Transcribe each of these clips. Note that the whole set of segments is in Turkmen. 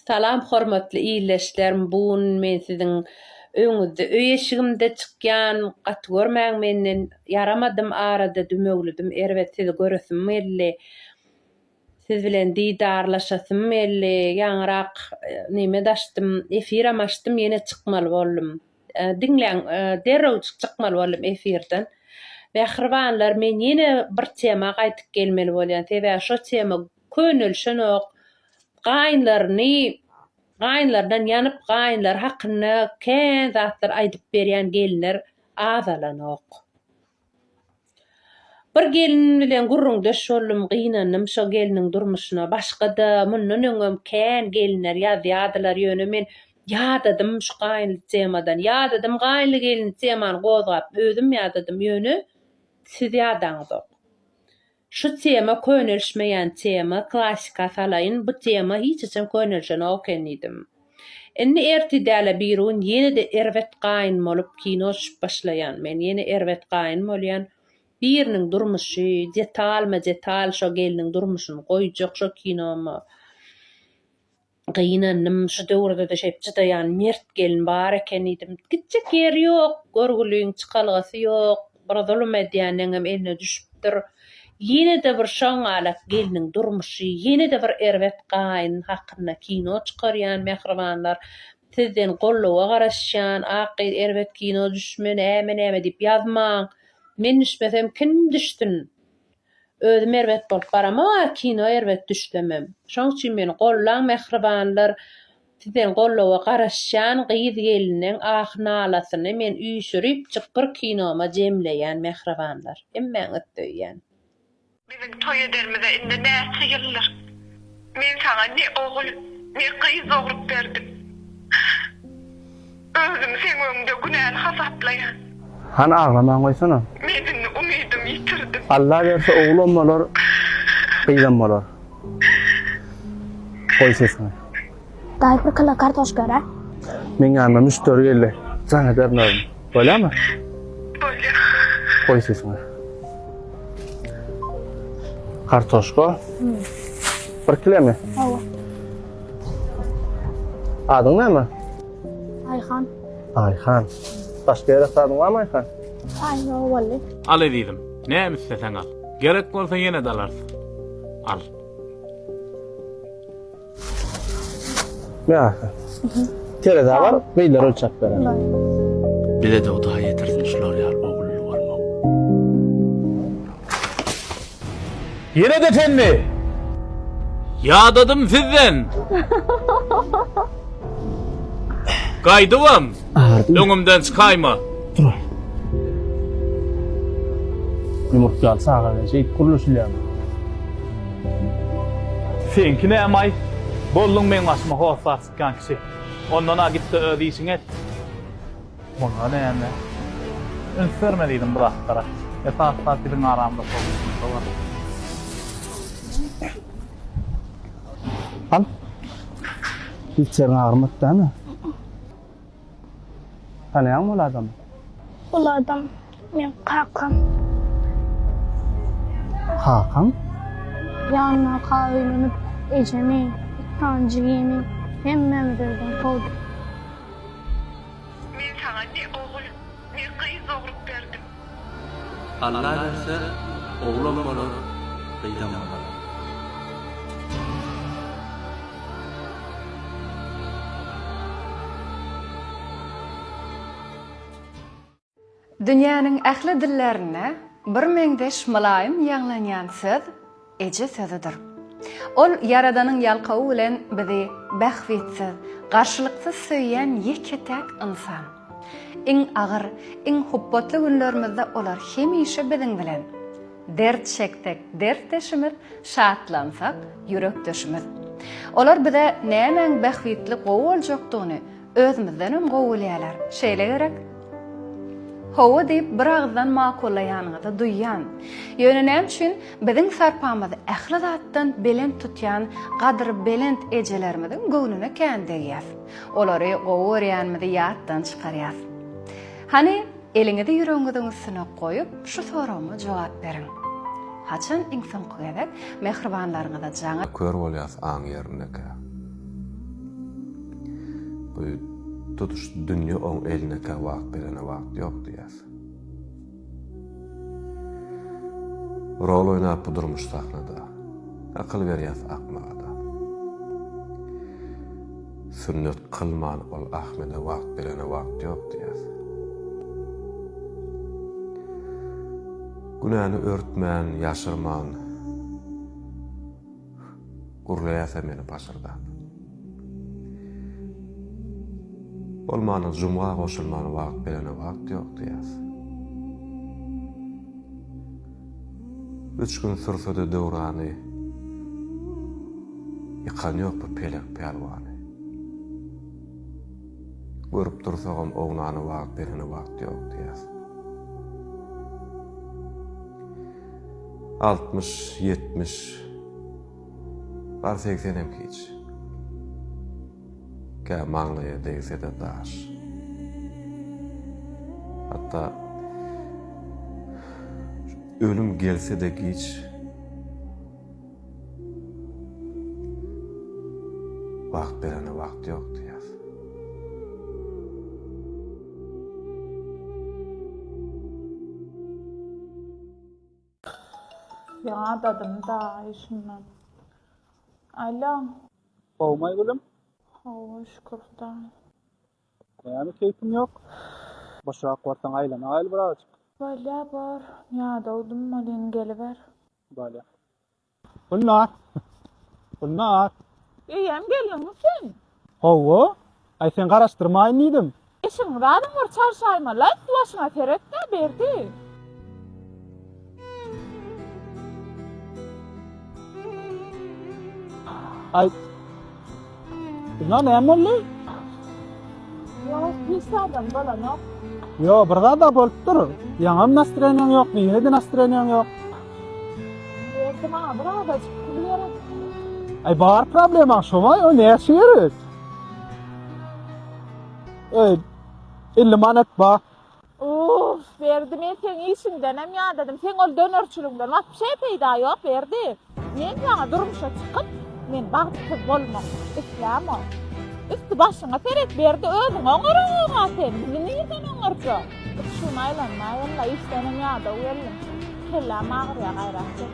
Salam hormatly illeşlerim bu gün men siziň öňüňizde öý eşigimde çykýan gaty görmäň menden ýaramadym arada dümewlidim erbet sizi göresim geldi siz bilen didarlaşasym geldi ýaňyrak neme daşdym efiram açdym ýene çykmaly boldum diňläň derrewjik çykmaly boldum efirden mähribanlar men ýene bir tema gaýdyp gelmeli bolýan sebäbi şo tema könelişenok. Gaýynlaryny, gaýynlaryndan ýanyp, gaýynlary hakynda kän zatlar aýdyp berýän gelinler azalanok. Bir gelin bilen gürrüňdeş boldum, gynandym şo gelniň durmuşyna. Başga-da, mundan öňem kän gelinler ýazýardylar, ýöne men ýadadym şu gaýynly temadan. Ýadadym, gaýynly-gelinli temany gozgap, özüm ýadadym, ýöne siz ýadaňyzok. Şu tema könelişmeýän tema, klasika salaýyn, bu tema hiç haçan könelişenok eken diýdim. Indi ertir däl-ä birigün ýene-de erbet gaýyn bolup kino düşüp başlaýan. Men ýene erbet gaýyn bolýan. Biriniň durmuşy, detalma-detal şo gelniň durmuşyny goýjak şo kinomy. Gynandym, şu döwürde-de şeýdip çydaýan mert gelin bar eken diýdim. Gitjek ýeri ýok, görgüliň çykalgasy ýok, bir zulum edýänleňem eline düşüpdir. Ýene-de bir şoňňalak gelniň durmuşy, ýene-de bir erbet gaýyn hakynda kino çykarýan mähribanlar. Sizden goldawa garaşýan, ak gyz erbet kino düşmeli, äme-näme diýip ýazmaň. Men düşmesem kim düşsün? Özüm erbet bolup baramok a kino erbet düşlemem. Şoň üçin meni gollaň mähribanlar sizden gollawa garaşýan gyz geliniň ahy nalasyny men üýşüripjik bir kinoma jemleýän mähribanlar. Hemmäňizi söýýän. Biziň toý edermize indi näçe ýyldyr. Men saňa ne ogul, ne gyz dogrup berdim. Özümi seň öňüňde günäli hasaplaýan. Hany aglamaň goýsana. Men indi umydymy ýitirdim. Alla berse oglam bolar, gyzam bolar. Goý sesiňi. Daýy bir kilo kartoşka örä. Meň ýanyma müşderi geldi. Jaň ederin özüm. Bolýamy? Bolýar. Goý sesiňi. Kartoşka. Bir kilemi? Hawa. Adyň näme? Aýhan. Aýhan. Başga ýere sadyň barmy Aýhan? Aý, ýok boldy. Al ezizim, näme isleseň al. Gerek bolsa ýene-de alarsyň. Al. Ýa-ha. Tereza bar, beýler ölçäp berer. Bize-de Hudaý ýetirsin şular ýaly ogully bolmak. Ýene-de senmi? Ýadadym sizden. Gaýdybam. Agyrdymy? Öňümden çykaýma! Dur. Ýumurt ýaly çagana şeýdip gürleşilýärmi? Seňki näme-aý? Bolduň meň başyma hossar sypýan kişi. Ondan-a git-de öz işiňi et. Muňa näme? Üns berme diýdim bu zatlara. Esas zat biziň aramyzda sowuşmakda bar. Al. Hiç ýeriň agyrmady dämi? Tanaýaňmy ol adamy? Ol adam meň kakam. Kakaň? Ýanyna kak öýlenip, ejemi, iki sany jigimi, hemmämizi öýden kowdy. Men saňa ne ogul. Men gyz dogrup berdim. Alla berse, oglam bolar, gyzam bolar. Dünýäniň ähli dillärinde bir meňzeş mylaýym ýaňlanýan söz Eje sözüdir. Ol Ýaradanyň ýalkawy bilen bizi bähbitsiz, garşylyksyz söýýän ýeke-täk ynsan. Iň agyr, iň hupbatly günlerimizde olar hemişe biziň bilen. Dert çeksek, dertdeşimiz, şatlansak, ýürekdeşimiz. Olar bize nämäň bähbitli gowy boljakdygyny, Özümizdenem gowy gülýäler. Şeýle gerek. Hawa diýip bir agyzdan makullaýanyňyzy duýýan. Ýöne näme üçin biziň sarpamyzy ähli zatdan belent tutýan gadyry belent ejelerimiziň göwnüne kän degýäs. Olary gowy görýänimizi ýatdan çykarýas. Hany Eliňizi ýüregiňiziň üstüne goýup, şu soragyma jogap beriň. Haçan iň soňky gezek mähribanlaryňyza jaňa. Kör bolýas aň ýerindekä. Bu tutuş dünýe oň elindekä wagt berene wagt ýok diýýäs. Rol oýnap bu durmuş sahnada. Akyl berýäs akmaga-da. Sünnet kylman ol Ahmede wagt berene wagt ýok diýýär. Günäni örtmän, ýaşyrman gürleýär sen meni pasyrdap. Bolmana jumga goşulman wagt berene wagt ýok diýýär. Üç gün sürse-de döwrany. Ýykan ýok bu pelek pälwany. Görüp dursagam ownany wagt berene wagt ýok diýýär. Altmyş, ýetmiş, bar segsenem hiç. Kä maňlaýa degsede daş. Hatda ölüm gelsede giç. Wagt berene wagt ýok diýýär. Ýadadymy daýy şundan. Allo. Sowmaý gülüm. Hawa şükür hudaý. Näme keýpiň ýok? Boşrak barsaň aýlana gaýl bir azajyk. Bolýa bor. Ýadawdym welin geliber. Bolýa. Gülnar. Gülnar. Eýýäm geldiňmi sen? Hawa. Aý sen garaşdyrmaýyn diýdim. Eşi Muradyň bir çarşaýyma laýk başyňa seretdä Berdi. Aý Gülnar näme boldy? Ýok hiç zadam bolanok. Ýok bir zada bolup dur. Ýaňam nastreniýaň ýokdy ýenede nastreniýaň ýok. Berdi maňa bir adajyk pul gerek. Aý bar problemaň şomaý o näçe gerek? Öý, 50 manat ba. Uff, Berdi, men seň işiňdenem ýadadym. Seň ol dönerçiligiňden wapşe peýda ýok, Berdi. Men ýaňy durmuşa çykyp, men bagtsyz bolmak islämok. Üsti-başyňa seret, Berdi, özüňi oňaragaň-a sen, bizi nirden oňarja? Uçuň aýlanmaýyn-la, işdenem ýadaw geldim. Kelläm agyrýa, gaýrat et.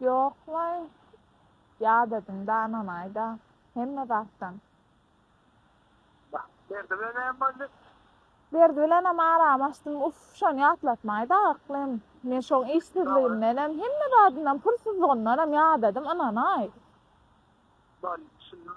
Ýoklaý, ýat ediň, dananaý-da, hemme zatdan. Bah, Berdi bilen näme boldy? Berdi bilenem aramy açdym. Uff, şony ýatlatmaý-da, yklym. Men şoň işsizligimdenem, hemme zadyndan, pulsuzlygyndanam ýadadim, ynanaý. Boldy, düşündim.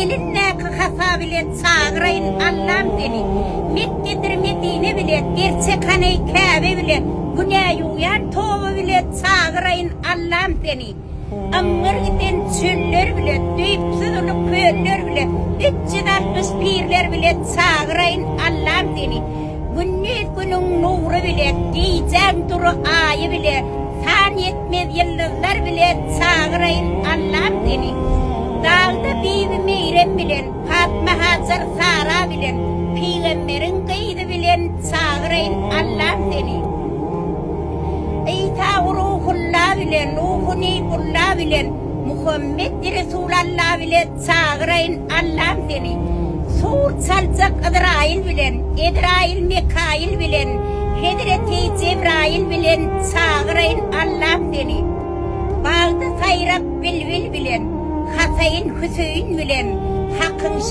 Elindäki hasa bilen çagyraýyn Allam seni, Mekgedir Medine bile Gerçek haneý Käbe bile Günä ýuwýan toba bile Çagyraýyn Allam seni, Aňňyr giden çöller bile Düýpsüz uly köller bile Üç ýüz altmyş pirler bile Çagyraýyn Allam seni, Gündiz günüň nury bile, gijäň dury aýy bile, san ýetmez ýyldyzlar bile çagyraýyn Allam seni. Dagda bibi Meýrem bilen, Patma Hajar Sara bilen, pygamberiň gyzy bilen çagyraýyn Allam seni. Isa Ruhulla bile, Nuhu Nybullah bile, Muhammet Resulalla bile Çagyraýyn Allam seni, Sur çaljak Yzraýyl bilen, Ezraýyl Mekaýyl bilen, Hezreti Jebraýyl bilen Çagyraýyn Allam seni, Bagda saýrap bilbil bilen, Hasaýyn Hüseýin bilen, Hakyň.